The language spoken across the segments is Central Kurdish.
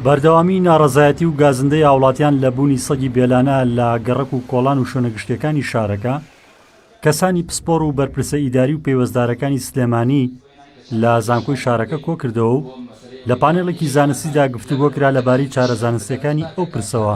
بەردەوامی ناڕەزایەتی و گازندەی هاوڵاتیان لە بوونی سەگی بێلانە لە گەڕەک و کۆڵان و شوێنە گشتیەکانی شارەکە، کەسانی پسپۆڕ و بەرپرسە ئیداری و پەیوەستدارەکانی سلێمانی لە زانکۆی شارەکە کۆکردەوە و لە پانێڵێکی زانستیدا گفتوگۆکرا لەبارەی چارە زانستیەکانی ئەو پرسەوە.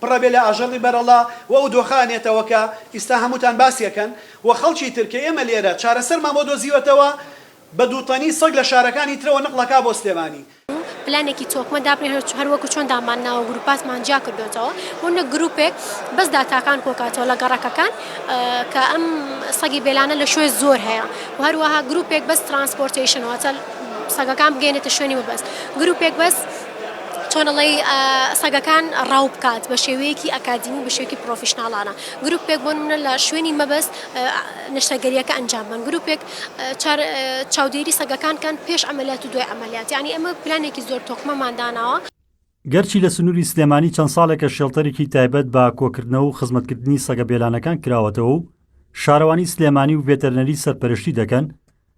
پڕە بێ لە ئاژەڵی بەرەڵا و ئەو دۆخە ئەنێتەوە کە ئیستا هەمووتان باسی ئەکەن و خەڵکی تر کە ئێمە لێرە چارەسەرمان بۆ دۆزیوەتەوە بە دوو تەنی سەگ لە شارەکانی ترەوە نقڵ ئەکا بۆ سلێمانی. پلانێکی تۆکمە دابنێن هەر هەر وەکو چۆن داممان ناوە گروپاتمان جیا کردۆتەوە بۆ نەک گروپێک بەس داتاکان کۆکاتەوە لە گەڕەکەکان کە ئەم سەگی بێلانە لە شوێ زۆر هەیە و هەروەها گروپێک بەس ترانسپۆرتەیشن واتە سەگەکان بگەینێتە شوێنی مەبەست گروپێک بەس چۆن ئەڵێی سەگەکان ڕاو بکات بە شێوەیەکی ئەکادیمی بە شێوەیەکی پرۆفیشناڵانە گروپێک بۆ نمونە لە شوێنی مەبەست نەشتەرگەریەکە ئەنجام بەن گروپێک چاودێری سەگەکان کەن پێش ئەمەلیات و دوای ئەمەلیات یعنی ئەمە پلانێکی زۆر تۆکمەمان داناوە. گەرچی لە سنووری سلێمانی چەند ساڵێکە شێڵتەرێکی تایبەت بە کۆکردنەوە و خزمەتکردنی سەگە بێلانەکان کراوەتەوە و شارەوانی سلێمانی و ڤێتەرنەری سەرپەرشتی دەکەن،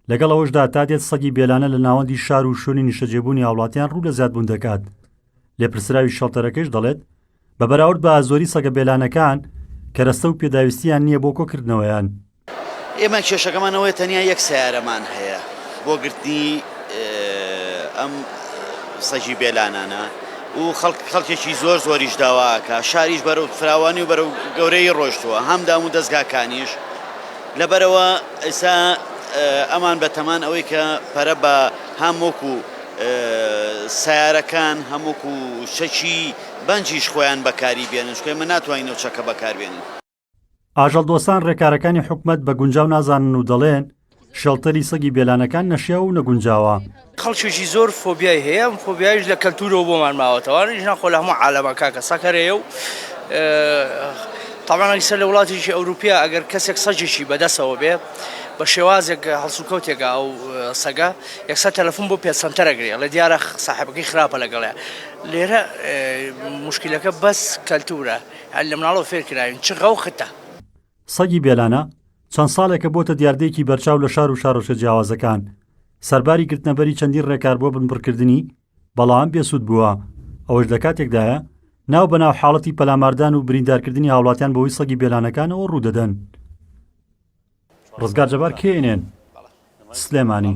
لەگەڵ ئەوەشدا تا دێت سەگی بێلانە لە ناوەندی شار و شوێنی نیشتەجێبوونی هاوڵاتیان ڕوو لە زیادبوون دەکات لێپرسراوی شەڵتەرەکەش دەڵێت بە بەراورد بە ئازۆری سەگە بێلانەکان کەرەستە و پێداویستیان نییە بۆ کۆکردنەوەیان ئێمە کێشەکەمان ئەوەیە تەنیا یەک سیارەمان هەیە بۆ گرتنی ئەم سەجی بێلانانە و خەڵک خەڵکێکی زۆر زۆریش داواکە شاریش بەرەو فراوانی و بەرەو گەورەی ڕۆشتووە هەم دام و دەستگاکانیش لەبەرئەوە ئیستا ئەمان بەتەمان ئەوەی کە پەرە بە هەم وەکو سیارەکان هەم وەکو چەکی بەنجیش خۆیان بەکاری بێنن چکە ئێمە ناتوانین ئەو چەکە بەکاربێنین. ئاژەڵدۆستان رێکارەکانی حکومەت بە گونجاو نازانن و دەڵێن، شێڵتەری سەگی بێلانەکان نەشیاو و نەگونجاوە، خەڵکێکی زۆر فۆبیای هەیە ئەم فۆبیایش لە کەلتورەوە بۆمان ماوەتەوە ئەرێ ژنان خۆ لە هەموو عالەما کاکە سەگ هەرەیە و تەبعەن ئەگسەر لە وڵاتێکی ئەوروپیا ئەگەر کەسێک سەگێکی بەدەسەوە بێ بە شێوازێک هەڵسوکەوتێکە ئەو سەگە یەکسەر تەلەفون بۆ پێتسەنتەر ئەگرێ ئەڵێ دیارە ساحێبەکەی خراپە لەگەڵێ لێرە موشکیلەکە بەس کەلتورە هەر لە مناڵەوە فێر کراوین چ غەوختە. سەگی بێلانە چەند ساڵێکە بۆتە دیاردەیەکی بەرچاو لە شار و شارۆچکە جیاوازەکان، سەرباری گرتنەبەری چەندین ڕێکار بۆ بنبڕکردنی، بەڵام بێسوود بووە، ئەوەش لە کاتێکدایە ناو بە ناو حاڵەتی پەلاماردان و بریندارکردنی هاوڵاتیان بەهۆی سەگی بێلانەکانەوە ڕوودەدەن. ڕزگار جەبار، کێ ئێنێن، سلێمانی.